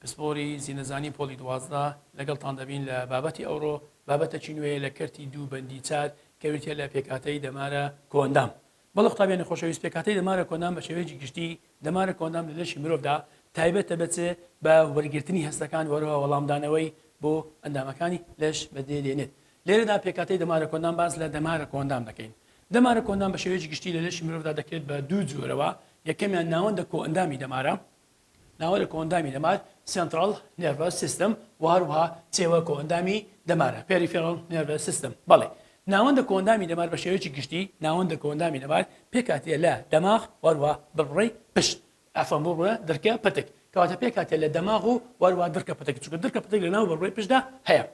پسپۆری زینەزانی پۆلی دوازدە لەگەڵتان دەبین لە بابەتی ئەوڕۆ، بابەتەکی نوێیە لە کەرتی دوو بەندی چار کە بریتیە لە پێکهاتەی دەمارە کۆئەندام. بەڵێ قوتابیانی خۆشەویست پێکهاتەی دەمارە کۆئەندام بە شێوەیەکی گشتی دەمارە کۆئەندام لە لەشی مرۆڤدا تایبەتە بە چ؟ بە وەرگرتنی هەستەکان وەرەوە وەڵامدانەوەی بۆ ئەندامەکانی لەش بەدێ دێنێت لێرەدا پێکهاتەی دەمارە کۆئەندام باس لە دەمارە کۆئەندام دەکەین دەمارە کۆئەندام بە شێوەیەکی گشتی لە لەشی مرۆڤدا دەکرێت بە دوو جۆرەوە یەکەمیان ناوەندە کۆئەندامی دەمارە ناوەرە کۆئەندامی دەمار، Central Nervous System، و هەروەها چێوە کۆئەندامی دەمارە، Peripheral Nervous System. بەڵی ناوەندە کۆئەندامی دەمار بە شێوەیەکی گشتی ناوەندە کۆئەندامی دەمار پێکهاتیە لە دەماغ و هەروەها بڕبڕەی پشت، عەفوەن بڕبڕە دڕکە پتک کەواتە پێکهاتیە لە دەماغ و و هەروەها دڕکە پتک چونکە دڕکە پتک لە ناو بڕبڕەی پشتدا هەیە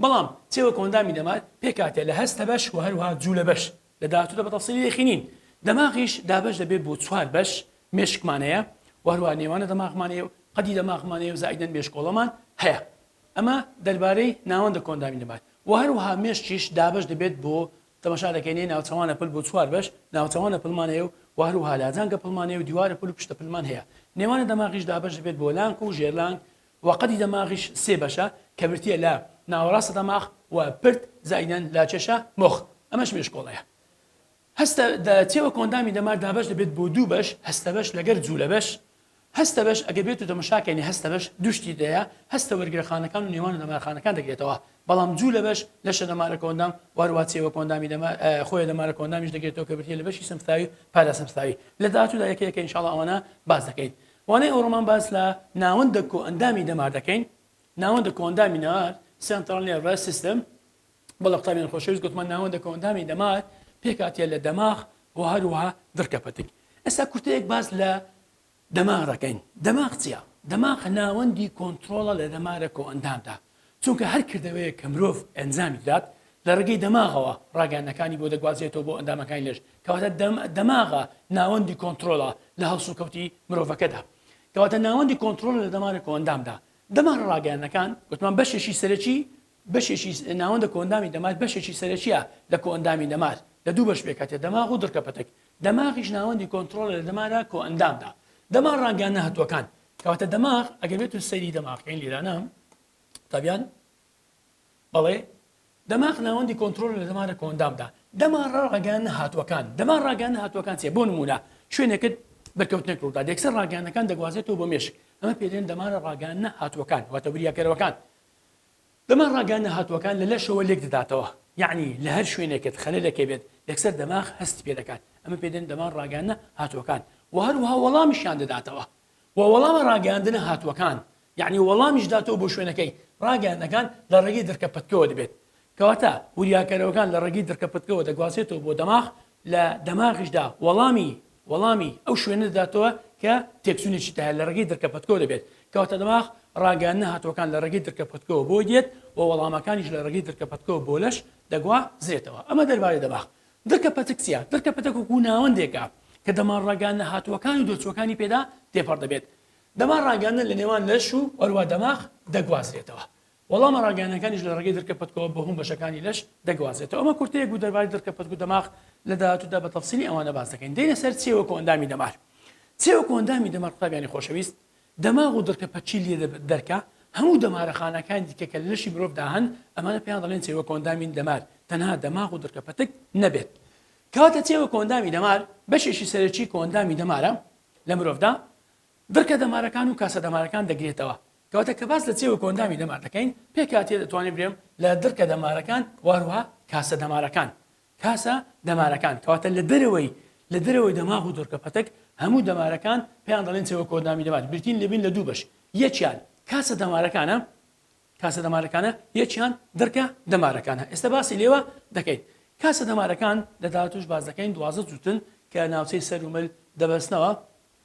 بەڵام چێوە کۆئەندامی دەمار پێکهاتیە لە هەستە بەش و هەروەها جوولە بەش. لە داهاتوودا بە تەفسیلی دەیخینین. دەماغیش دابەش دەبێت بۆ چوار بەش، مێشکمان هەیە و هەروەها نێوانە دەماغمان هەیە و قەدی دەماغمان هەیە و زائیدەن مێشکۆڵەمان هەیە. ئەمە دەربارەی ناوەندە کۆندامی دەمار و هەروەها مێشکیش دابەش دەبێت بۆ، تەماشا دەکەینێ ناوچەوانە پل بۆ چوار بەش، ناوچەوانە پلمان هەیە و و هەروەها لاجانگە پلمان هەیە و دیوارە پل و پشتە پلمان هەیە. نێوانە دەماغیش دابەش دەبێت بۆ لانک و ژێرلانک و قەدی دەماغیش سێ بەشە کە برتیە لە، ناوەڕاستە دەماغ، و، پرد، زائیدەن لە، چەشە، مخ، ئەمەش مێشکۆڵەیە هەستە، دە تێوە کۆئەندامی دەمار دابەش دەبێت بۆ دوو بەش، هەستەبەش لەگەر جولەبەش، هەستەبەش ئەگەر بێتو تەمەشاکەینە هەستەبەش دوو شتی دەیە هەستە وەرگرەخانەکان و نێوان و دەمارخانەکان دەگرێتەوە بەڵام جولەبەش لەشە دەمارە کۆئەندام وەهەروە تێوە کۆئەندامی دەمار خۆیە دەمارە کۆئەندامیش دەگرێتەوە کە برتیە لە بەشی سمفتاوی و پاراسمفتاوی لە داهاتودا یەکە یەکە انشاءاللە ئەوانە باس دەکەین وانەی ئەوڕۆمان باس لە ناوەندە کۆئەندامی دەمار دەکەین، ناوەندە کۆئەندامی نەمار، Central Nervous System، بە لە قوتابیانی خۆشەویست گوتمان ناوەندە کۆئەندامی دەمار پێکهاتیە لە دەماغ و هەروەها دڕکە پەتک. ئێستا کورتەیەک باس لە دەماغ دەکەین، دەماغ چیە؟ دەماغ ناوەندی کۆنترۆڵە لە دەمارە کۆئەندامدا، چونکە هەر کردەوەیەک کە مرۆڤ ئەنجامی بدات لە ڕێگەی دەماغەوە ڕاگەیاندنەکانی بۆ دەگوازێتەوە بۆ ئەندامەکانی لەش کەواتە دەماغە ناوەندی کۆنتڕۆڵە لە هەڵسوکەوتی مرۆڤەکەدا کەواتە ناوەندی کۆنتڕۆڵە لە دەمارە کۆئەندامدا دەمارە ڕاگەیاندنەکان گوتمان بەشێکی سەرەکی بەشێکی ناوەندە کۆئەندامی دەمار بەشێکی سەرەکیە لە کۆئەندامی دەمار لە دوو بەش پێکهاتێ دەماغ و دڕکە پەتک دەماغیش ناوەندی کۆنتڕۆڵە لە دەمارە کۆئەندامدا دەمار ڕاگەیاندنە هەتووەکان کەواتە دەماغ ئەگەر بێتون سەیری دەماغ کەین لیرانە قوتابیان بەڵێ دەماغ ناوەندی کۆنتترۆل لە دەمارە کۆندامدا دەما ڕاگەیان هاتووەکان دەما ڕاگەیان هاتووەکان چێ بۆ نمونە شوێنێکت بەرکەوتنێک ڕوودا دێکسەر ڕاگەیانەکان دەگوازێتەوە بۆ مێشک ئەمە پێدێن دەمارە ڕاگەیان هاتووەکان واتە وریاکەرەوەکان دەماغ ڕەنگە نەهاتووەکان لە لەشەوە لێکدەداتەوە، یەعنی لە هەر شوێنێکت خەلەلەکێ بێت یەکسەر دەماغ هەستی پێ دەکات، ئەمە پێ دەن دەماغ ڕاگەیاندنە هاتووەکان، وە هەروەها وەڵامیشیان دەداتەوە، وە وەڵامە ڕاگەیاندنە هاتووەکان یەعنی وەڵامیش داتەوە بۆ شوێنەکەی، ڕاگەیاندنەکان لە ڕێگەی دڕکە پتکەوە دەبێت کەواتە وریاکەرەوەکان لە ڕێگەی دڕکە پتکەوە دەگوازرێتەوە بۆ دەماغ، لە دەماغیشدا وەڵامی وەڵامی ئەو شوێنە دەداتەوە کە تێکچوونێکی تیا هەیە لە ڕێگەی درکە پەتکەوە دەبێت، کەواتە دەماغ ڕاگەیاندنە هاتووەکان لە ڕێگەی درکە پەتکەوە بۆی دێت و وەڵامەکانیش لە ڕێگەی درکە پەتکەوە بۆ لەش دەگوازرێتەوە. ئەمە دەربارەی دەماغ. درکە پەتک چییە؟ درکە پەتک وەکوو ناوەندێکە کە دەمار ڕاگەیاندنە هاتووەکان و دەرچووەکانی پێدا تێپەڕ دەبێت. دەمار ڕاگەیاندن لە نێوان لەش و هەروەها دەماغ دەگوازرێتەوە. وەڵامە ڕاگەیانەکانیش لە ڕێگەی درکە پەتکەوە بۆ هەموو بەشەکانی لەش دەگوازێتەوە. ئەمە کورتەیەک بوو دەربارەی درکە پەتک و دەماغ، لە داهاتوودا بە تەفسیلی ئەوانە باس دەکەین. دێینە سەر چێ وەکو ئەندامی دەمار. چێ وەکو ئەندامی دەمار قوتابیانی خۆشەویست، دەماغ و درکە پەتکی لێ دەبێت دەرکە، هەموو دەمارە خانەکانی دیکە کە لە لەشی مرۆڤدا هەن ئەمانە پێیان دەڵێن چێ وەکو ئەندامی دەمار تەنها دەماغ و درکە پەتک نەبێت. کەواتە چێ وەکو ئەندامی دەمار بەشێکی سەرەکی کۆئەندامی دەمارە لە مرۆڤدا، درکە دەمارەکان و کاسە دەمارەکان دەگرێتەوە کەواتە کە باس لە چێوە کۆئەندامی دەمار دەکەین پێکهاتیە دەتوانێت برێم لە درکە دەمارەکان وهروها کاسە دەمارەکان کاسە دەمارەکان کەواتە لە دەرەوەی لە دەرەوەی دەماغ و دورکە پەتک هەموو دەمارەکان پێیان دەڵێن چێوە کۆئەندامی دەمار برتین لەبین لە دوو بەش یەکیان کاسە دەمارەکانە کاسە دەمارەکانە یەکیان درکە دەمارەکانە ئێستا باسی لێوە دەکەین کاسە دەمارەکان لە داهاتوش باز دەکەین دوازە جوتن کە ناوچەی سەر و مل دەبەستنەوە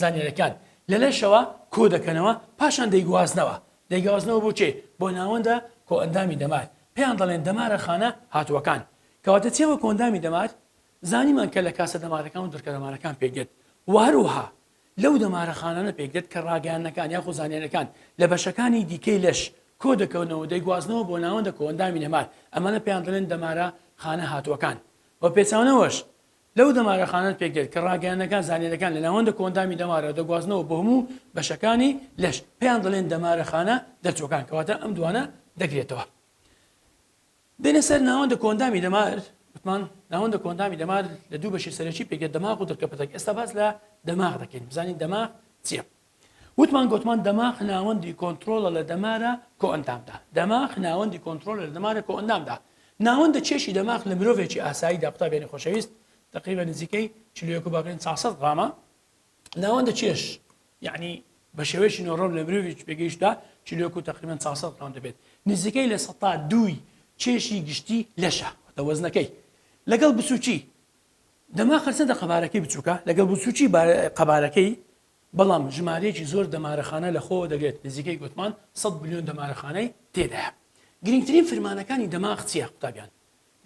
زانیاریەکان لە لەشەوە کۆ دەکەنەوە پاشان دەیگوازنەوە، دەیگوازنەوە بۆ کێ؟ بۆ ناوەندە کۆئەندامی دەمار، پێیان دەڵێن دەمارە خانە هاتووەکان. کەواتە چییە وە کۆئەندامی دەمار؟ زانیمان کە لە کاسە دەمارەکان و دڕکە دەمارەکان پێک دێت و هەروەها لەو دەمارە خانانە پێک دێت کە ڕاگەیاندنەکان یاخود زانیاریەکان لە بەشەکانی دیکەی لەش کۆ دەکەونەوە و دەیگوازنەوە بۆ ناوەندە کۆئەندامی دەمار ئەمانە پێیان دەڵێن دەمارە خانە هاتووەکان. بە پێچەوانەوەش لەو دەمارە خانەت پێکدێت کە ڕاگەیاندنەکان زانیاریەکان لە ناوەندە کۆئەندامی دەمارەوە دەگوازنەوە بۆ هەموو بەشەکانی لەش پێیان دەڵێن دەمارە خانە دەرچوەکان کەواتە ئەم دوانە دەگرێتەوە دێنە سەر ناوەندە کۆندامی دەمار وتمان ناوەندە کۆندامی دەمار لە دوو بەشی سەرەکی پێکێت دەماغ و درکەپەتەک ئێستا باس لە دەماغ دەکەین بزانین دەماغ چییە وتمان گۆتمان دەماخ ناوەندی کۆنترۆڵە لە دەمارە کۆئەندامدا دەماخ ناوەندی کۆنترۆلە لە دەمارە کۆئەندامدا ناوەندە چێشی دەماخ لە مرۆڤێکی ئاساییدا قوتابیانی خۆشەویست تقریبا نزیکەی چل و یەک و باقین چوار سەد غرامە ناوەندە چێش یعنی بە شێوەیەکی نۆڕۆم لە مرۆڤێکی پێگەیشتدا چل و یەک و تقریبا چوار سەد غرام دەبێت نزیکەی لە سەتا دووی چێشی گشتی لەشە وەتە وەزنەکەی لەگەڵ بچووکی دەماخ هەرچەندە قەبارەکەی بچووکە لەگەڵ بچووکی بار- قەبارەکەی بەڵام ژمارەیەکی زۆر دەمارەخانە لەخۆوە دەگرێت، نزیکەی گۆتمان سەد ملیۆن دەمارەخانەی تێدایە. گرنگترین فرمانەکانی دەماغ چییە قوتابیان؟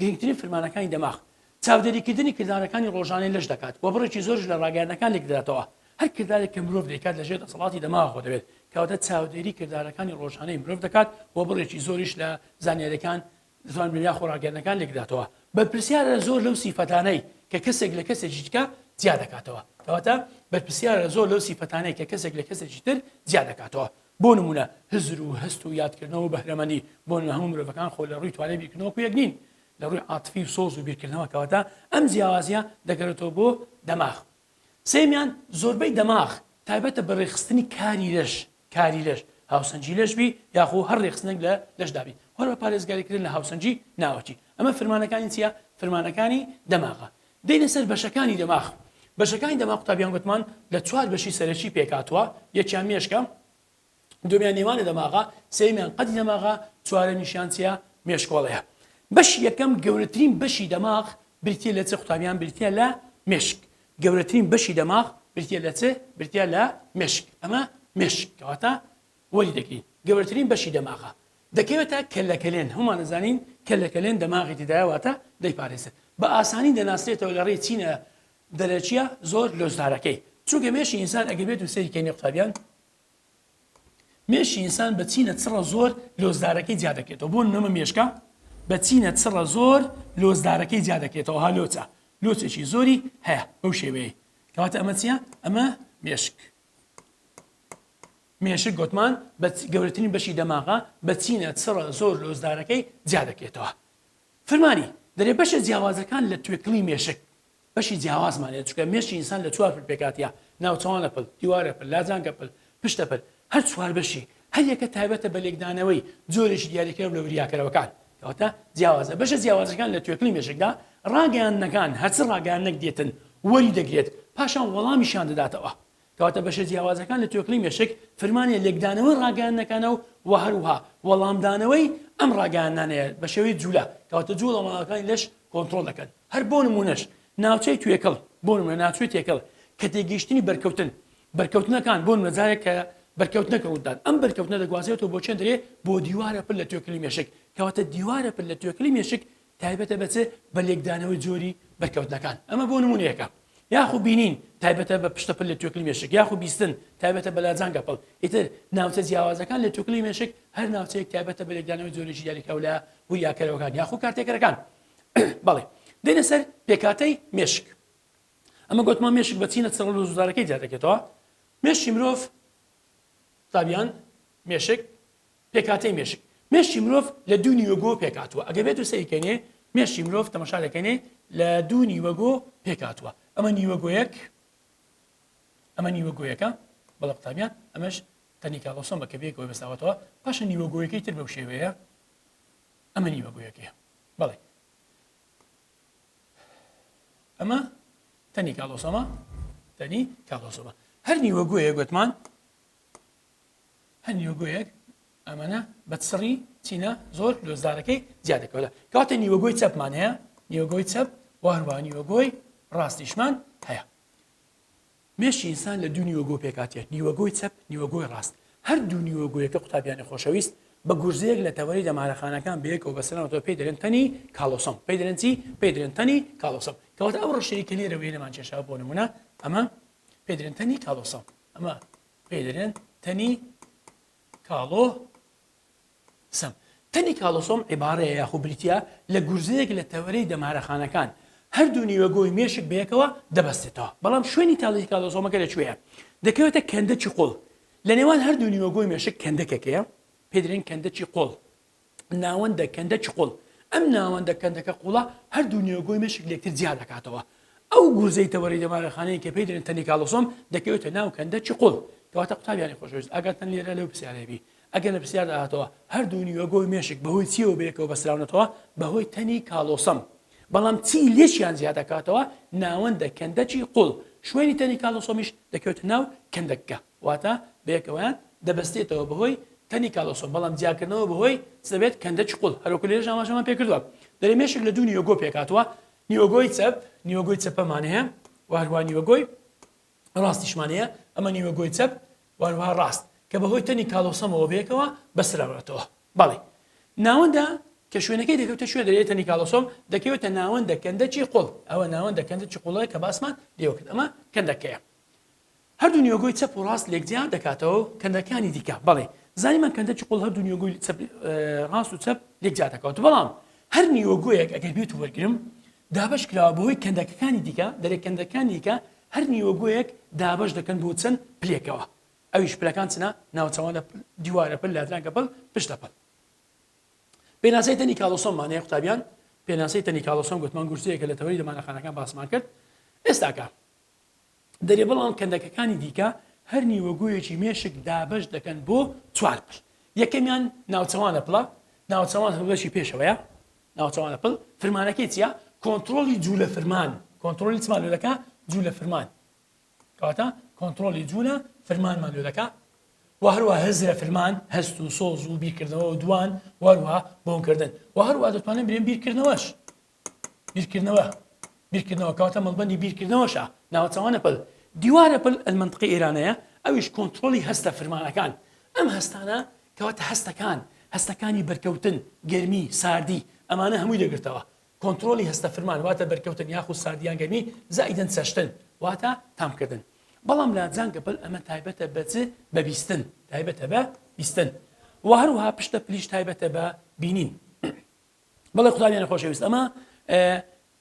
گرنگترین فرمانەکانی دەماغ چاودێریکردنی کردارەکانی ڕۆژانەی لەش دەکات و بڕێکی زۆریش لە ڕاگەیاندنەکان لێکدەداتەوە، هەر کردارێک کە مرۆڤ دەیکات لەژێر دەسەڵاتی دەماغەوە دەبێت، کەواتە چاودێری کردارەکانی ڕۆژانەی مرۆڤ دەکات و بڕێکی زۆریش لە زانیارییەکان دەتوانبێت یاخۆ ڕاگەیاندنەکان لێکداتەوە، بەرپرسیارە لە زۆر لەو سیفەتانەی کە کەسێک لە کەسێکی دیکە جیا دەکاتەوە، کەواتە بەرپرسیارە لە زۆر لەو سیفەتانەی کە کەسێک لە کەسێکی تر جیا دەکاتەوە، بۆ نموونە هزر و هەست و یادکردنەوە و بەهرەمەندی، بۆ نموونە هەموو مرۆڤەکان خۆ لە ڕووی توانای بیرکردنەوە وەکو یەک نین لە ڕووی عاتفی و سۆز و بیرکردنەوە، کەواتە ئەم جیاوازییە دەگەرێتەوە بۆ دەماغ. سێیەمیان زۆربەی دەماغ تایبەتە بە ڕێکخستنی کاری لەش، کاری لەش، هاوسەنگی لەش بی یاخو هەر رێخستنێک لە لەش دا بی هۆر بە پارێزگاری کردن لە هاوسەنگی ناوەکی ئەمە فرمانەکانی چیە فرمانەکانی دەماغە دێینە سەر بەشەکانی دەماغ بەشەکانی دەماغ قوتابیان گۆتمان لە چوار بەشی سەرەکی پێک هاتوە یەکیان مێشکە دومیان نێوانە دەماغە سێمیان قەدی دەماغە چوارەمیشیان چیە مێشکۆڵەیە بەشی یەکەم گەورەترین بەشی دەماغ بریتیە لە چ قوتابیان بریتیە لە مێشک گەورەترین بەشی دەماغ بریتیە لە چ؟ بریتیە لە مێشک، ئەمە مێشک کەواتە وەری دەگرین گەورەترین بەشی دەماغە دەکەوێتە کەللەکەلێن هەموومان ئەزانین کەللەکەلێن دەماغی تیدایە واتە دەیپارێزێت بە ئاسانی دەناسرێتەوە لە ڕێی چینە دەرەکیە زۆر لۆزدارەکەی چونکە مێشی ئینسان ئەگەر بێت و سەیری کەینی قوتابیان مێشی ئینسان بە چینە چڕە زۆر لۆزدارەکەی جیا دەکرێتەوە بۆ نەمە مێشکە بە چینە چڕە زۆر لۆزدارەکەی جیا دەکرێتەوە ها لۆچە لۆچێکی زۆری هەیە بەو شێوەیە کەواتە ئەمە چیە ئەمە مێشک مێشک گوتمان بە گەورەترین بەشی دەماغە بە چینە چڕە زۆر لۆزدارەکەی جیا دەکرێتەوە فرمانی دەرێ بەشە جیاوازەکان لە توێکڵی مێشک بەشی جیاوازمان هەیە چونکە مێشکی ئینسان لە چوار پل پێکهاتە، ناوچەوانە پل، دیوارە پل، لاجانکە پل، پشتە پل، هەر چوار بەشی هەر یەکە تایبەتە بە لێکدانەوەی جۆرێکی دیاریکراو لە وریاکەرەوەکان کەواتە جیاوازە، بەشە جیاوازەکان لە توێکڵی مێشکدا ڕاگەیاندنەکان هەرچ ڕاگەیاندنەک دێتن وەریدەگرێت پاشان وەڵامیشیان دەداتەوە. کەواتە بەشە جیاوازەکان لە توێکڵی مێشک فرمانیان لێکدانەوەی ڕاگەیاندنەکانە و و هەروها وەڵامدانەوەی ئەم ڕاگەیاندنانەیە بە شێوەی جوولە کەواتە جووڵە ماڵەکانی لەش کۆنترۆڵ دەکەن هەر بۆ نمونەش ناوچەی توێکڵ بۆ نمونە ناوچەی تێکڵ کە تێگەیشتنی بەرکەوتن بەرکەوتنەکان بۆ نمەجارێک کە بەرکەوتنەکە ڕوودان ئەم بەرکەوتنە دەگوازێتەوە بۆ چێندرێ بۆ دیوارە پر لە توێکلی مێشک کەواتە دیوارە پر لە توێکلی مێشک تایبەتە بە چ؟ بە لێکدانەوەی جۆری بەرکەوتنەکان، ئەمە بۆ نموونەیەکە. یاخو بینین، تایبەتە بە پشتە پل لە توێکڵی مێشک، یاخو بیستن، تایبەتە بە لاجانگە پڵ. ئیتر ناوچە جیاوازەکان لە توێکڵی مێشک، هەر ناوچەیەک تایبەتە بە لێکدانەوەی جۆرێکی دیاریکراو لە وریاکەرەوەکان یاخو کارتێکەرەکان. بەڵی، دێنە سەر پێکهاتەی مێشک. ئەمە گۆتمان مێشک بە چینە چڕەل و زوزارەکەی جیادەکێتەوە. مێشکی مرۆڤ، زابیان، مێشک، پێکهاتەی مێشک، مێشکی مرۆڤ لە دوو نیوەگۆ پێکهاتووە، ئەگەر بێتو سەیری کەینێ مێشکی مرۆڤ تەمەشا دەکەینێ لە دوو نیوەگۆ پێکهاتووە ئەمە نیوەگۆیەک ئەمە نیوەگۆیەکە بەڵە قوتابیان ئەمەش تەنیکاڵۆسۆم بە کەبێکەوە بەساوەتەوە پاشە نیوەگۆیەکەی تر بەو شێوەیە ئەمە نیوەگۆیەکەیە بەڵێ ئەمە تەنی کاڵۆسۆمە تەنی کاڵۆسۆمە هەر نیوەگوۆیە گوتمان هەر نیوەگۆیەک ئەمەە بە سڕی چینە زۆر لۆزدارەکەی جیا دەکەوە کەواتە نیوەگۆی چەپمان هەیە نیوەگۆی چەپ وهروە نیوەگۆی ڕاستیشمان هەیە مێشی ئینسان لە دوو نیوەگۆ پێکاتە نیوەگۆی چەپ نیوەگۆی ڕاست هەر دوو نیوەگوۆیەکە قوتابیانی خۆشەویست بە گورزەیەک لە تەوەری دەمارەخانەکان بەیەکەوە بەسەرەوە پێی دەرێن تەنی کاڵۆسم پێی دەرنجی پێی درێن تەنی کاڵۆسم کەواتە ئەو ڕشەیە کە لێرەوەی لەمان کێشا بۆ نمونە ئەمە پێدرێن تەنی کاڵۆسم ئەمە پێ دەرێن تەنی کاڵۆ سم تەنی کاڵۆسۆم عیبارەیە یاخو بریتە لە گورزەیەک لە تەوەرەی دەمارەخانەکان هەردوو نیوەگۆی مێشک بەیەکەوە دەبەستێتەوە بەڵام شوێنی تاڵی کاڵۆسۆمەکە لەکوێیە دەکەوێتە کەندە چی قوڵ لە نێوان هەردوو نیوەگۆی مێشک کەندەکەکەیە پێدرێن کەندە چی قۆڵ ناوەندە کەندە چقوڵ، ئەم ناوەندە کەندەکە قوڵە هەردوو نێوگۆی مێشک لێکتر جیا دەکاتەوە. ئەو گورزەی تەوەری دەمارەخانەیە کە پێی دەلێن تەنیکالۆسۆم دەکەوێتە ناو کەندە چقوڵ. کەواتە قوتابیانی خۆشەویست ئاگاتان لێرە لەو پرسیارە هەبی ئەگەر لە پرسیاردا هاتەوە هەردوو نیوەگۆی مێشک بەهۆی چیەوە بەیەکەوە بەستراونەتەوە بەهۆی تەنی کالۆسەم بەڵام چی لێکیان جیا دەکاتەوە ناوەندە کەندەچی قوڵ شوێنی تەنی کالۆسۆمیش دەکەوێتە ناو کەندەکە واتە بەیەکەوەیان دەبەستێتەوە بەهۆی تەنی کالۆسۆم بەڵام جیاکردنەوە بەهۆی چ دەبێت کەندە چقڵ هەروەکو لێرەش ئاماژەمان پێکردوە دەرێ مێشک لە دوو نیوەگۆ پێکهاتوە نیوەگۆی چەپ نیوەگۆی چەپەمان هەیە وە هەروە نیوەگۆی ڕاستیشمان هەیە ئەمە نیوەگۆی چەپ وە هەروەها ڕاست کە بەهۆی تەنی کالۆسۆمەوە بەیەکەوە بەسراوەتەوە بەڵێ ناوەندە کە شوێنەکەی دەکەوتە شوێ دەرێ تەنی کالۆسۆم دەکەوێتە ناوەندە کەندە چی قڵ ئەوە ناوەندە کەندە چ قوڵەیە کە باسمان لێوە کرد ئەمە کەندەکەیە هەردوو نیۆگۆی چەپ و ڕاست لێک جیا دەکاتەوە و کەندەکانی دیکە بەڵێ زانیمان کەندە چقڵ هەردوو نیۆگۆی چەپ ڕاست و چەپ لێک جیا دەکەوت بەڵام هەر نیۆگۆیەک ئەگەر بێت و وەرگرم دابش کراوە بەهۆی کەندەکەکانی دیکە دەرێ کەندەکانی دیکە هەر نیۆگۆیەک دابش دەکەن بۆ چەند پلێکەوە ئەویش پلەکان چنە ناوچەوانە دیوارە پل لادرانکە پل پشتە پل پێناسەی تەنی کاڵۆسۆممان هەیە قوتابیان پێناسەی تەنی کاڵۆسۆم گوتمان گورچەیەکە لە تەوەری دەمانەخانەکان باسمان کرد ئێستاکە دەرێ بەڵام کەندەکەکانی دیکە هەر نیوەگۆیەکی مێشک دابەش دەکەن بۆ چوار پل یەکەمیان ناوچەوانە پلە ناوچەوان هەڵوێستی پێشەوەیە ناوچەوانە پل فرمانەکەی چیە کۆنترۆلی جوولە فرمان کۆنترۆلی چمان لەکە جوولە فرمان کەواتە کۆنترۆلی جوولە فرمانمان لێ دەکا و هەروە هەزرە فرمان هەست و سۆز و بیرکردنەوە و دوان وەروە بۆنکردن و هەروە دەتوانن برێن بیرکردنەوەش بیرکردنەوە بیرکردنەوە کەواتە مەڵبەندی بیرکردنەوەشە ناوە چاوانە پل دیوارە پل ئەلمنتقی ئێرانەیە ئەویش کۆنتترۆلی هەستە فرمانەکان ئەم هەستانە کەواتە هەستەکان هەستەکانی بەرکەوتن گەرمی ساردی ئەمانە هەمووی دەگرتەوە کۆنتترۆلی هەستە فرمان واتە بەرکەوتن یاخود ساردیان گەرمی زائیدن چەشتن واتە تامکردن بەڵام لا جانگە بەل ئەمە تایبەتە بەچ بەبیستن تایبەتە بە بیستن و هەروها پشتە پلیش تایبەتە بە بینین بەڵێ قوتابیانی خۆشەویست ئەمە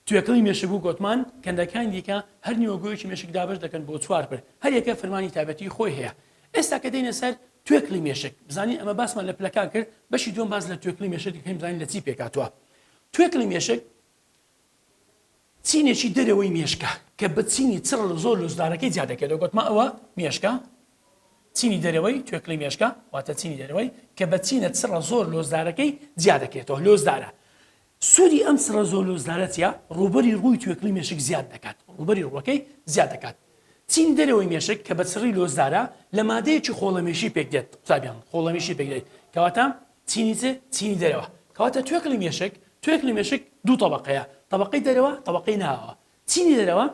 توێکڵی مێشک و گۆتمان کەندەکانی دیکە هەر نیوەگۆیەکی مێشک دابش دەکەن بۆ چوار پر هەر یەکە فرمانی تابەتی خۆی هەیە ئێستا کە دێنە سەر توێکلی مێشک بزانین ئەمە باسمان لە پلەکان کرد بەشی دوم باز لە توێکلی مێشک دەکەین بزانین لە چی پێکاتوە توێکلی مێشک چینێکی دەرەوەی مێشکە کە بە چینی چڕ و زۆر لوسدارەکەی جیا دەکرێتەوە، گۆتمان ئەوە مێشکە، چینی دەرەوەی توێکڵی مێشکە، واتە چینی دەرەوەی کە بە چینە چڕە زۆر لۆسدارەکەی جیا دەکرێتەوە، لۆسدارە. سوودی ئەم چڕە زۆر لۆسدارە چیە؟ ڕووبەری ڕووی توێکڵی مێشک زیاد دەکات، ڕووبەری ڕووەکەی زیاد دەکات. چینی دەرەوەی مێشک کە بە چڕی لۆسدارە لە مادەیەکی خۆڵەمێشی پێکدێت، قوتابیان خۆڵەمێشی پێکدێت کەواتە، چینی چ؟ چینی دەرەوە. کەواتە توێکڵی مێشک، توێکڵی مێشک دوو تەبەقەیە، تەبەقەی دەرەوە، تەبەقەی ناوەوە. چینی دەرەوە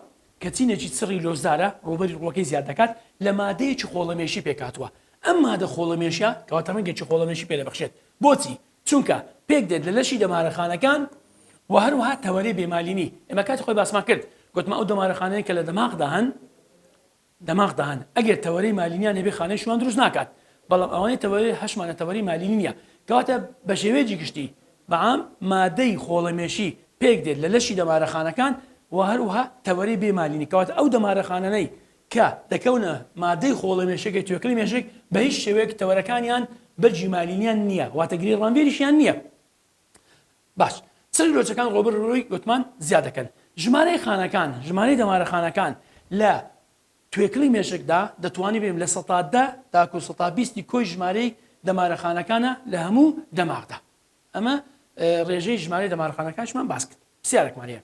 کە چینێکی چڕی لۆسدارە، ڕووبەری ڕووەکەی زیاد دەکات، لە مادەیەکی خۆڵەمێشی پێکهاتووە. ئەم مادە خۆڵەمێشە کەواتە ڕەنگێکی خۆڵەمێشی پێ دەبەخشێت. بۆچی؟ چونکە پێکدێت لە لەشی دەمارەخانەکان و هەروەها تەوەرەی بێمالینی. ئێمە کاتی خۆی باسمان کرد. گوتمان ئەو دەمارەخانانەی کە لە دەماغدا هەن، دەماغ دان ئەگەر تەوەرەی مالینیان هەبێ خانەی شوان دروست ناکات بەڵام ئەوانەی تەوەرەی هەشمانە تەوەرەی مالینی نیە کەواتە بەشێوەیەکی گشتی بەعام مادەی خۆڵەمێشی پێک دێت لە لەشی دەمارە خانەکان وە هەروەها تەوەرەی بێ مالینی کەواتە ئەو دەمارە خانەنەی کە دەکەونە مادەی خۆڵە مێشەکەی توێکڵی مێشک بەهیچ شێوەیەک تەوەرەکانیان بەرگی مالینیان نیە واتە گرێی ڕامبێریشیان نیە باش چرک لۆچەکان ڕۆبەر ڕووی وتمان زیا دەکەن ژمارەی خانەکان ژمارەی دەمارە خانەکان لە توێکڵی مێشکدا دەتوانی بێم لە سەتا دە تاکو سەتا بیستی کۆی ژمارەی دەمارە خانەکانە لە هەموو دەماغدا ئەمە ڕێژەی ژمارەی دەمارە خانەکانشمان باس کرد پرسیارەکمان هەیە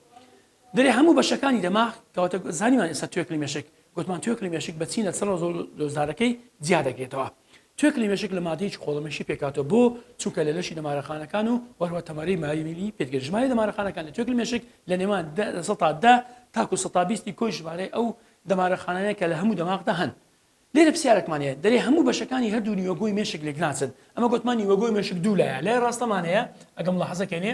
درێ هەموو بەشەکانی دەماغ کەواتە زانیمان ئێستا توێکڵی مێشک گوتمان توێکڵی مێشک بە چینە چڕە زۆڵ دۆزدارەکەی جیا دەگرێتەوە توێکڵی مێشک لە مادەیەکی قۆڵەمێشی پێکاتەوە بۆ چونکە لە لەشی دەمارەخانەکان و وەروە تەمەری مایمیلی پێتگەر ژمارە دەمارەخانەکان لە توێکڵی مێشک لە نێوان سەتا دە تاکو سەتا بیستی کۆی ژمارەی ئەو دەمارەخانانەیە کە لە هەموو دەماغدا هەن لێرە پرسیارێکمانەیە دەرێ هەموو بەشەکانی هەردوو نیوەگۆی مێشک لێک ناچن ئەمە گوتمان نیوەگۆی مێشک دوو لایە لای ڕاستەمانەیە ئەگەم لە حەزەکەێنێ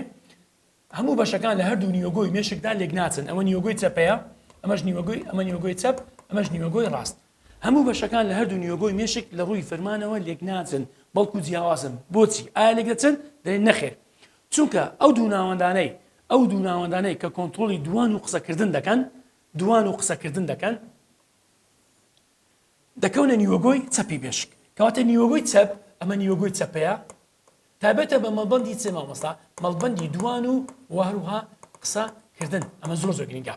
هەموو بەشەکان لە هەردوو نیوەگۆی مێشکدا لێکناچن، ئەمە نیوەگۆی چەپەیە، ئەمەش نیوەگۆی، ئەمە نیوەگۆی چەپ، ئەمەش نیوەگۆی ڕاست. هەموو بەشەکان لە هەردوو نیوەگۆی مێشک لە ڕووی فرمانەوە لێکناچن، بەڵکو جیاوازن. بۆچی؟ ئایا لێکدەچن؟ دەڵێن نەخێر. چونکە ئەو دوو ناوەندانەی، ئەو دوو ناوەندانەی کە کۆنتڕۆڵی دووان و قسەکردن دەکەن، دووان و قسەکردن دەکەن، دەکەونە نیوەگۆی چەپی مێشک. کەواتە نیوەگۆی چەپ، ئەمە نیوەگۆی چەپەیە، تایبەتە بە مەڵبەندی چ مامۆستا؟ مەڵبەندی دووان و وە هەروها قسە کردن ئەمە زۆر زۆر گرنگە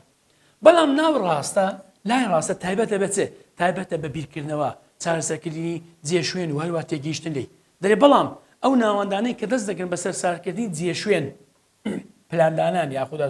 بەڵام ناو ڕاستە لای ڕاستە تایبەتە بە چ تایبەتە بە بیرکردنەوە چارەسەرکردنی جێ شوێن و هەروە تێگەیشتن لی دەێ بەڵام ئەو ناوەندانەی کە دەست دەگرن بەسەر سارکردنی جێ شوێن پلاندانان یاخود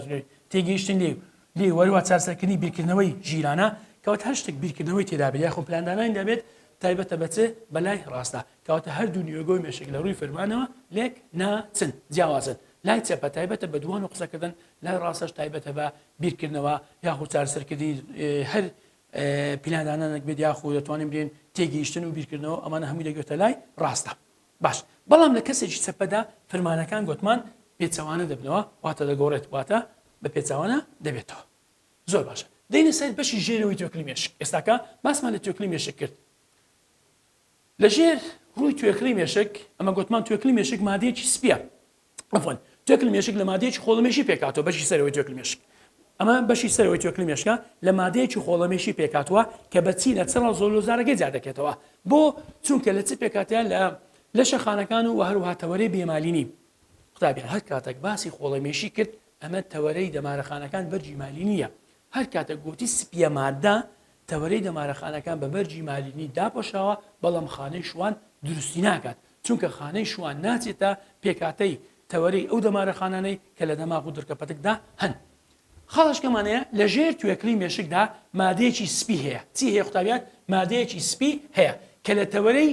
تێگەیشتن لێ لێ وەروە چارسەرکردنی بیرکردنەوەی ژیرانە کەوت هەر شتێک بیرکردنەوەی تێدابێت یاخۆ پلاندانانی دەبێت تایبەتە بەچێ بەلای ڕاستە کەواتە هەردوو نیۆگۆی مێشک لە ڕووی فەرمانەوە لێک ناچن جیاوازن لای چەپە تایبەتە بە دووان و قسەکردن لای ڕاستەش تایبەتە بە بیرکردنەوە یاخود چارسەرکردنی هەر پیلانانەک بێت یاخود دەتوانین بێن تێگەیشتن و بیرکردنەوە ئەمانە هەمووی دەگوێتە لای ڕاستە باش، بەڵام لە کەسێکی چەپەدا فرمانەکان گۆتمان پێچەوانە دەبنەوە واتە دەگۆڕێت واتە بە پێچەوانە دەبێتەوە. زۆر باشە دێینە سەر بەشی ژێرەوەی توێکڵی مێشک ئێستاکە باسمان لە توێکڵی مێشک کرد لە ژێر ڕووی توێکڵی مێشک ئەمە گۆتمان توێکڵی مێشک مادەیەکی سپیە عەفوەن توێکڵی مێشک لە مادەیەکی خۆڵەمێشی پێکهاتووە بەشی سەرەوەی توێکڵی مێشک ئەمە بەشی سەرەوەی توێکڵی مێشکە لە مادەیەکی خۆڵەمێشی پێکهاتووە کە بە چینە چڕە زۆلۆزارەکەی جیا دەکرێتەوە بۆ چونکە لە چ پێکاتیان لە لە شەخانەکان و هەروها تەوەری بێمالینی قوتابیان هەر کاتێک باسی خۆڵەمێشی کرد ئەمە تەوەرەی دەمارەخانەکان بەرجی مالی نییە هەر کاتە گۆتی سپییە مادە، تەوەرەی دەمارەخانەکان بە بەرگی مالینی داپۆشراوە، بەڵام خانەی شوان دروستی ناکات، چونکە خانەی شوان ناچێتە پێکهاتەی تەوەرەی ئەو دەمارەخانانەی کە لە دەماغ و دڕکە پەتکدا هەن. خاڵێشکەمان هەیە، لە ژێر توێکڵی مێشکدا مادەیەکی سپی هەیە، چی هەیە قوتابیان؟ مادەیەکی سپی هەیە کە لە تەوەرەی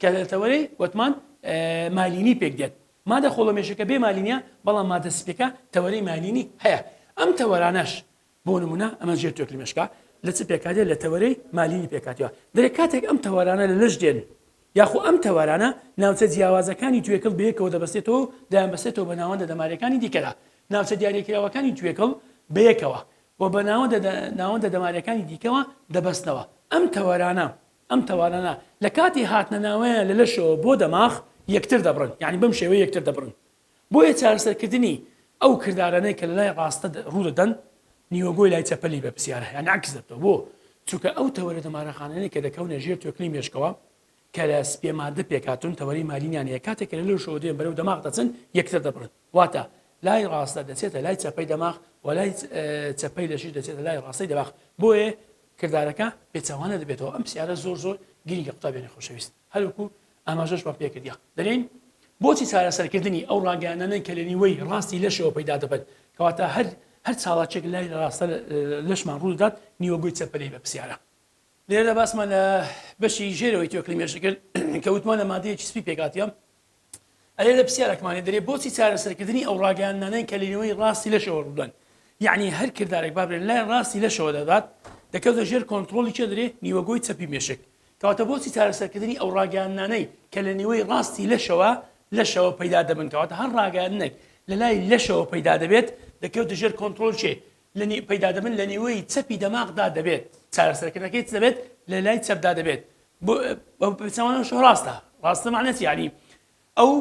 کە لە تەوەرەی وەتمان مالینی پێک دێت. مادە خۆڵەمێشەکە بێ مالینیە بەڵام مادە سپیەکە تەوەرەی مالینی هەیە. ئەم تەوەرانەش بۆ نمونە ئەمە ژێر توێکلی مێشکە لە چ پێکهاتێ لە تەوەرەی مالینی پێکاتەوە دەێ کاتێک ئەم تەوەرانە لە لەش دێن یاخۆ ئەم تەوەرانە ناوچە جیاوازەکانی توێکڵ بەیەکەوە دەبەستێتەوە و دایان بەسێتەوە بە ناوەندە دەمارەکانی دیکەدا ناوچە دیارەکراوەکانی توێکڵ بەیەکەوە و بە ناوەندە ناوەندە دەمارەکانی دیکەوە دەبەستنەوە ئەم تەوەرانە ئەم تەوارانە لە کاتی هاتنە ناوەیان لە لەشەوە بۆ دەماخ یەکتر دەبڕن یانی بەم شێوەیە یەکتر دەبڕن بۆیە چارەسەرکردنی ئەو کردارانەی کە لە لای ڕاستە ڕوو دەدەن نیوەگۆی لای چەپە لی بە پرسیارە یانی عەکس دەبتەوە بۆ چونکە ئەو تەوەرە دەمارەخانانەی کە دەکەونە ژێر توێکڵی مێشکەوە کە لە سپێ ماددە پێکهاتوون تەوەرەی مالینیان هەیە کاتێک کە لە لەشەوە دێن بەرەو دەماغ دەچن یەکتر دەبڕن واتە، لای ڕاستە دەچێتە لای چەپەی دەماغ و لای چەپەی لەشیش دەچێتە لای ڕاستەی دەماغ بۆیە کردارەکە پێچەوانە دەبێتەوە ئەم پرسیارە زۆر زۆر گرینگە قوتابیانی خۆشەویست هەروەکو ئاماژەشمان پێکردیە دەلێین بۆچی چارەسەرکردنی ئەو ڕاگەیانانەن کە لە نیوەی ڕاستی لەشەوە پەیدا دەبن کەواتە هەر هەر چاڵاکێک لای ڕاستە لەشمان ڕوودەدات نیوەگۆی چەپەلەی بە پرسیارە لێرەدا باسمان لە بەشی ژێرەوەی توێکڵی مێشک کرد کە وتمان لە مادەیەکی سپی پێکهاتیە ئەرێ لە پسیارەکمان لێ دەرێ بۆچی چارەسەرکردنی ئەو ڕاگەیاندنانەن کە لەنێوەی ڕاستی لەشەوە ڕوودەن یعنی هەر کردارێک بابرێن لای ڕاستی لەشەوە دەدات دەکەوتە ژێر کۆنتترۆڵی چێ دەرێ نیوەگۆی چەپی مێشک کەواتە بۆچی چارەسەرکردنی ئەو ڕاگەیاندنانەی کە لە نیوەی ڕاستی لەشەوە لەشەوە پەیدا دەبن کەواتە هەر ڕاگەیاندنێک لە لای لەشەوە پەیدا دەبێت دەکەوتە ژێر کۆنتترۆل چێ لە پەیدا دەبن لە نیوەی چەپی دەماغدا دەبێت چارەسەرکردنەکەی دەبێت لە لای چەپدا دەبێت بە پێچەوانەشەوە ڕاستە. ڕاستە مەعنای چی؟ یەعنی ئەو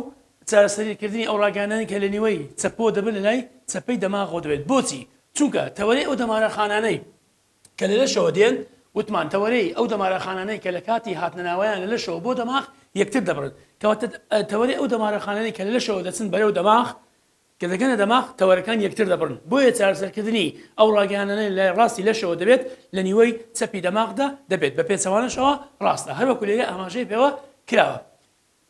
چارەسەریکردنی ئەو ڕاگەیاندانەی کە لە نیوەی چەپەوە دەبن لە لای چەپەی دەماغەوە دەبێت. بۆچی؟ چونکە تەوەرەی ئەو دەمارەخانانەی کە لە لەشەوە دێن، وتمان تەوەرەی ئەو دەمارەخانانەی کە لە کاتی هاتنەناوەیان لە لەشەوە بۆ دەماغ یەکتر دەبڕن. کەواتە تەوەرەی ئەو دەمارەخانانەی کە لە لەشەوە دەچن بەرەو دەماغ کە دەگەنە دەماغ تەوەرەکان یەکتر دەبڕن، بۆیە چارەسەرکردنی ئەو ڕاگەیاندنە لە ڕاستی لەشەوە دەبێت لە نیوەی چەپی دەماغدا دەبێت بە پێچەوانەشەوە ڕاستە هەروەکو لێرە ئاماژەی پێوە کراوە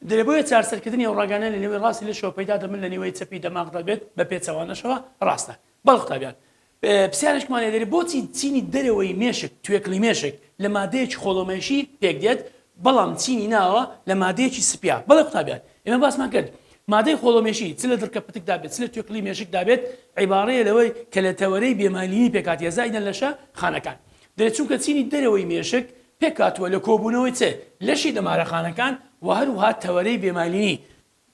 دەێ بۆیە چارەسەرکردنی ئەو ڕاگەیاندنە لە نیوەی ڕاستی لەشەوە پەیدا دەبن لە نیوەی چەپی دەماغدا بێت بە پێچەوانەشەوە ڕاستە بەڵێ قوتابیان پرسیارێکمان لێدەری بۆچی چینی دەرەوەی مێشک، توێکڵی مێشک، لە مادەیەکی خۆڵەمێشی پێکدێت بەڵام چینی ناوە لە مادەیەکی سپیا؟ بەڵێ قوتابیان ئێمە باسمان کرد مادەی خۆڵەمێشی چ لە دڕکە پتکدا بێت چ لە توێکڵی مێشکدا بێت عیباڕەیە لەوەی کە لە تەوەرەی بێمالینی پێکهاتیە زائیدەن لەشە خانەکان دەێت چونکە چینی دەرەوەی مێشک پێکهاتووە لە کۆبوونەوەی چ لەشی دەمارەخانەکان و هەروها تەوەرەی بێمالینی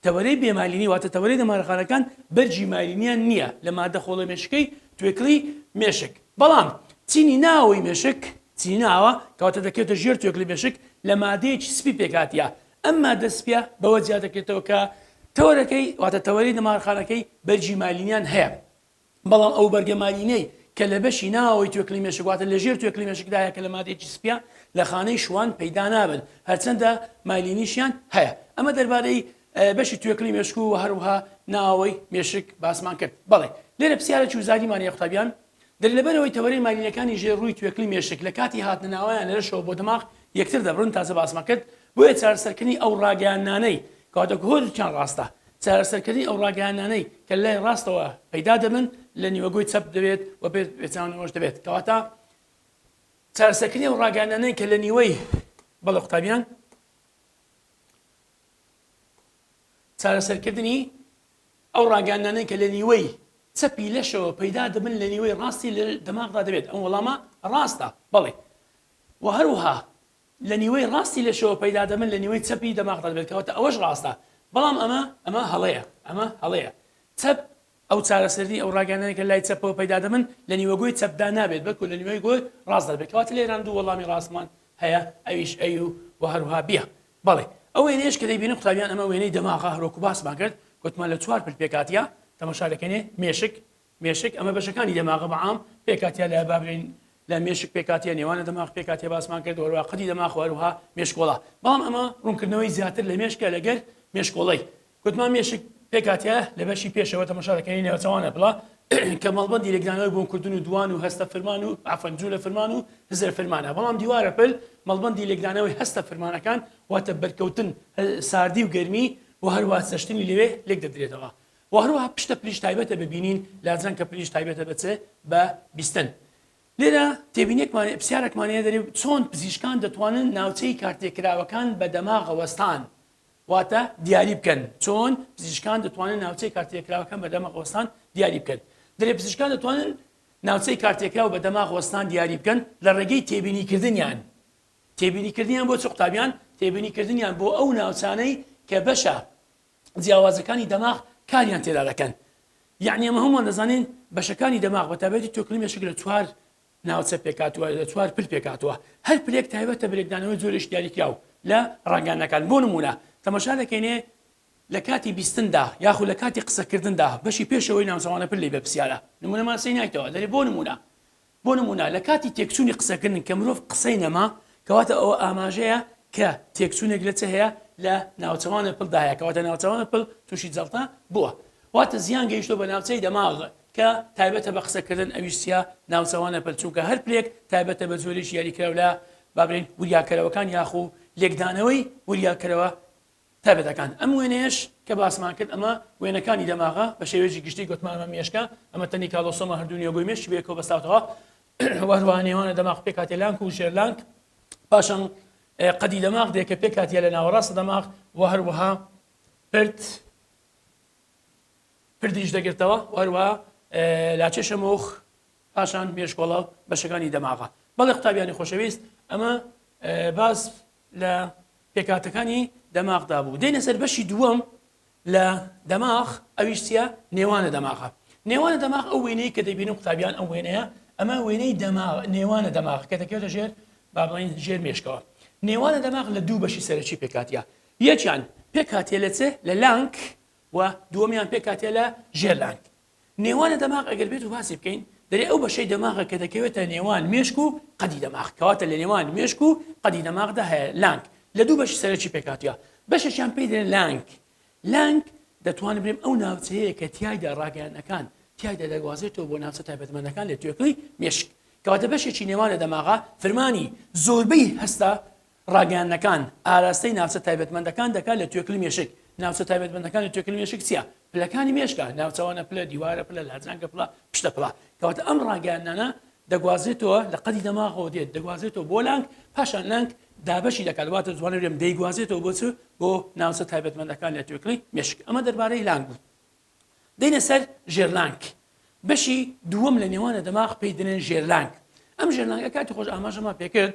تەوەرەی بێمالینی واتە تەوەرەی دەمارەخانەکان بەرگی مالینیان نییە لە ماددە خۆڵە مێشکەی توێکڵی مێشک بەڵام چینی ناوەوەی مێشک چینی ناوە کەواتە دەکەوێتە ژێر توێکڵی مێشک لە مادەیەکی سپی پێکهاتە ئەم ماددە سپیە بەوە جیادەکرێتەوە کە تەوەرەکەی واتە تەوەرەی دەمارخانەکەی بەرگی مالینیان هەیە بەڵام ئەو بەرگە مارینەی کە لە بەشی ناوەوەی توێکڵی مێشک واتە لە ژێر توێکڵی مێشکدا هەیە کە لە مادەیەکی سپییە لە خانەی شوان پەیدا نابن هەرچەندە مایلینیشیان هەیە ئەمە دەربارەی بەشی توێکڵی مێشک و هەروها ناوەوەی مێشک باسمان کرد بەڵێ لێرە پرسیارە چوزاریمان یە قوتابیان دەر لەبەرەوەی تەوەرەی مالینەکانی ژێر ڕووی توێکلی مێشک لە کاتی هاتنە ناوەیان لەشەوە بۆ دەماغ یەکتر دەبرن تازە باسمە کرد بۆیە چارەسەرکردنی ئەو ڕاگەیاندنانەی کە واتەکە هۆیەکیان ڕاستە، چارەسەرکردنی ئەو ڕاگەیاندنانەی کە لای ڕاستەوە پەیدا دەبن لە نیوەگۆی چەپ دەبێت و پێ پێچاونەوەش دەبێت کەواتە چارەسەرکردنی ئەو ڕاگەیاندنانەی کە لە نیوەی بەڵێ قوتابیان چارەسەرکردنی ئەو ڕاگەیاندنانەی کە لە نیوەی چەپی لەشەوە پەیدا دەبن لە نیوەی ڕاستی لە دەماغدا دەبێت ئەم وەڵامە ڕاستە بەڵێ و هەروها لە نیوەی ڕاستی لەشەوە پەیدا دەبن لە نیوەی چەپی دەماغ دەبێت کەواتە ئەوەش ڕاستە بەڵام ئەمە ئەمە هەڵەیە ئەمە هەڵەیە چەپ ئەو چارەسەری ئەو ڕاگەیانەی کە لای چەپەوە پەیدا دەبن لە نیوە گۆی چەپدا نابێت بەلکو لە نیوەی گۆی ڕاستدا دەبێت کەواتە لێران دوو وەڵامی ڕاستمان هەیە ئەویش ئەی و وە هەروها بیە بەڵێ ئەو وێنەیەش کە دەیبینن قوتابیان ئەمە وێنەی دەماغە هەروەکو باسمان کرد گوتمان لە چوار پل پێکهاتیە تەماشا دەکەنێ مێشک مێشک، ئەمە بەشەکانی دەماغە بەعام پێکهاتە لە با بلێین لە مێشک پێکهاتە نێوانە دەماغ پێکهاتە باسمان کرد هەروە قەدی دەماغ و هەروها مێشکۆڵە بەڵام ئەمە ڕوونکردنەوەی زیاتر لە مێشکە لەگەر مێشکۆڵەی گوتمان مێشک پێکاتە لە بەشی پێشەوە تەمەشا دەکەین نێوەچوانە بڵا کە مەڵبندی لەگرانەوەی بۆنکردن و دوان و هەستە فرمان و ئافەن جوو لە فرمان و هزر فرمانە بەڵام دیوارە پل مەڵبندی لەگرانەوەی هەستە فرمانەکان واتە بەرکەوتن ساردی و گەرمی و هەروە سەشتنی لەوێ لێک دەدرێتەوە و هەروەها پشتە پریش تایبەتە بە بینین لاجان کە پریش تایبەتە بە چ بە بیستن لێرە تێبینێکمان پرسیارێکمان هەیە دەرێ چۆن پزیشکان دەتوانن ناوچەی کارتێکراوەکان بە دەماغەوەستان واتە دیاری بکەن چۆن پزیشکان دەتوانن ناوچەی کارتێکراوەکان بە دەمەغەوەستان دیاری بکەن دەرێ پزیشکان دەتوانن ناوچەی کارتێکراو بە دەماغ وەستان دیاری بکەن لە ڕێگەی تێبینیکردنیان تێبینیکردنیان بۆ چ قوتابیان تێبینیکردنیان بۆ ئەو ناوچانەی کە بەشە جیاوازەکانی دەماغ کاریان تێدا دەکەن یەعنی ئەمە هەمووان دەزانین بەشەکانی دەماغ بە تابێتی تۆکلی مێشک لە چوار ناوچە پێکاتوە لە چوار پل پێکاتوە هەر پلێک تایبەتە برێکدانەوەی زۆرش دیاریکراو لە ڕنگانەکان بۆ نمونە تەمەشا دەکەینێ لە کاتی بیستندا یاخود لە کاتی قسەکردندا بەشی پێشەوەی ناوچەوانە پر لی بە پرسیارە نمونەمان سینایتەوە دەێ بۆ نمونە بۆ نموونە لە کاتی تێکچوونی قسەکردن کە مرۆڤ قسەی نەما، کەواتە ئەوە ئاماژەیە کە تێکچوونێک لە چ هەیە؟ لە ناوچەوانە پل دا هەیە، کەواتە ناوچەوانە پل تووشی جەڵتە بووە. واتە زیان گەیشتووە بە ناوچەی دەماغ کە تایبەتە بە قسەکردن، ئەویش چییە؟ ناوچەوانە پل، چونکە هەر پلێک تایبەتە بە جۆرێکی یاریکراو لە با بلێین وریاکەرەوەکان یاخو لێکدانەوەی وریاکەرەوە تایبەتەکان، ئەم وێنەیەش کە باسمان کرد ئەمە وێنەکانی دەماغە، بە شێوەیەکی گشتی گوتمان ئەمە مێشکە، ئەمە تەنی کالۆسۆمە هەردوو نێوگۆی مێشکی بەیەکەوە بەستاوتەوە و هەروەها نێوانە دەماغ پێکهاتە لانک و ژێرلانک پاشان قەدی دەماغ دێکە پێکاتە لە ناوەڕاستە دەماغ و هەروەها پرد پردیش دەگرتەوە وەروە لاچێشە مۆخ پاشان مێشکۆڵە بەشەکانی دەماغە بەڵێ قوتابیانی خۆشەویست ئەمە باز لە پێکهاتەکانی دەماغدا بوو دێنە سەر بەشی دووەم لە دەماغ ئەویش چیە نێوانە دەماغە نێوانە دەماغ ئەو وێنەی کە دەبینی قوتابیان ئەو وێنەیە ئەمە وێنەی دەماغ نێوانە دەماغ کە دەکەوێتە ژێر با بڵین ژێر مێشکەوە نێوانە دەماغ لە دوو بەشی سەرەکی پێکاتە یەکیان پێکاتێ لە چێ لە لانک و دووەمیان پێکاتێ لە ژێر لانک نێوانە دەماغ ئەگەر بێت و باسی بکەین دەرێ ئەو بەشەی دەماغە کە دەکەوێتە نێوان مێشک و قەدی دەماغ کەواتە لە نێوان مێشک و قەدی دەماغدا هەیە لانک لە دوو بەشی سەرەکی پێکاتە بەشێکیان پێی دەێن لانک لانک دەتوانم برێم ئەو ناوچەیە کە تایدا ڕاگەیانەکان تایدا دەگوازێتەوە بۆ ناوچە تایبەتمەندەکان لە توێکڵی مێشک کەواتە بەشێکی نێوانە دەماغا فرمانی زۆربەی هەستا ڕاگەیاندنەکان، ئاراستەی ناوچە تایبەتمەندەکان دەکات لە توێکڵی مێشک، ناوچە تایبەتمەندەکان لە توێکڵی مێشک چییە؟ پلەکانی مێشکە، ناوچەوانە پلە، دیوارە پلە، لاجانگە پلە، پشتە پلە. کەواتە ئەم ڕاگەیاندنانە دەگوازرێتەوە لە قەدی دەماغەوە دێت دەگوازرێتەوە بۆ لانک پاشان لانک دابەشی دەکات واتە جوانە بێم دەیگوازێتەوە بۆ چ بۆ ناوچە تایبەتمەندەکان لە توێکڵی مێشک ئەمە دەربارەی لانک بوو دەینە سەر ژێرلانک بەشی دووەم لە نێوانە دەماغ پێی دەنێن ژێرلانک ئەم ژێرلانگە کاتی خۆش ئاماژەمان پێکرد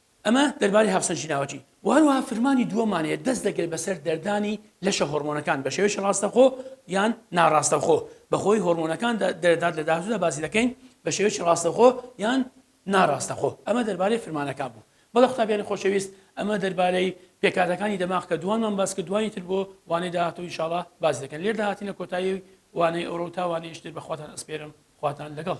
ئەمە دەربارەی هاوسەرگی لاوەکی و هەروەها فرمانی دووەمان هەیە دەست دەگرێت بەسەر دەردانی لەشە هۆرمۆنەکان بە شێوەیەکی ڕاستەخۆ یان ناڕاستەخۆ بەهۆی هۆرمۆنەکان دەردات لە داهاتوودا باسی دەکەین بە شێوەیەکی ڕاستەخۆ یان ناڕاستەخۆ ئەمە دەربارەی فرمانەکان بوو بەڵە قوتابیانی خۆشەویست ئەمە دەربارەی پێکاتەکانی دەماغ کە دوانمان باس کە دوانی تر بۆ وانەی داهاتوو ئینشاڵا باس دەکەن لێردا هاتینە کۆتایی وانەی ئەوڕۆ و تاوانەیشتر بەخواتان ئەسپێرم خواتان لەگەڵ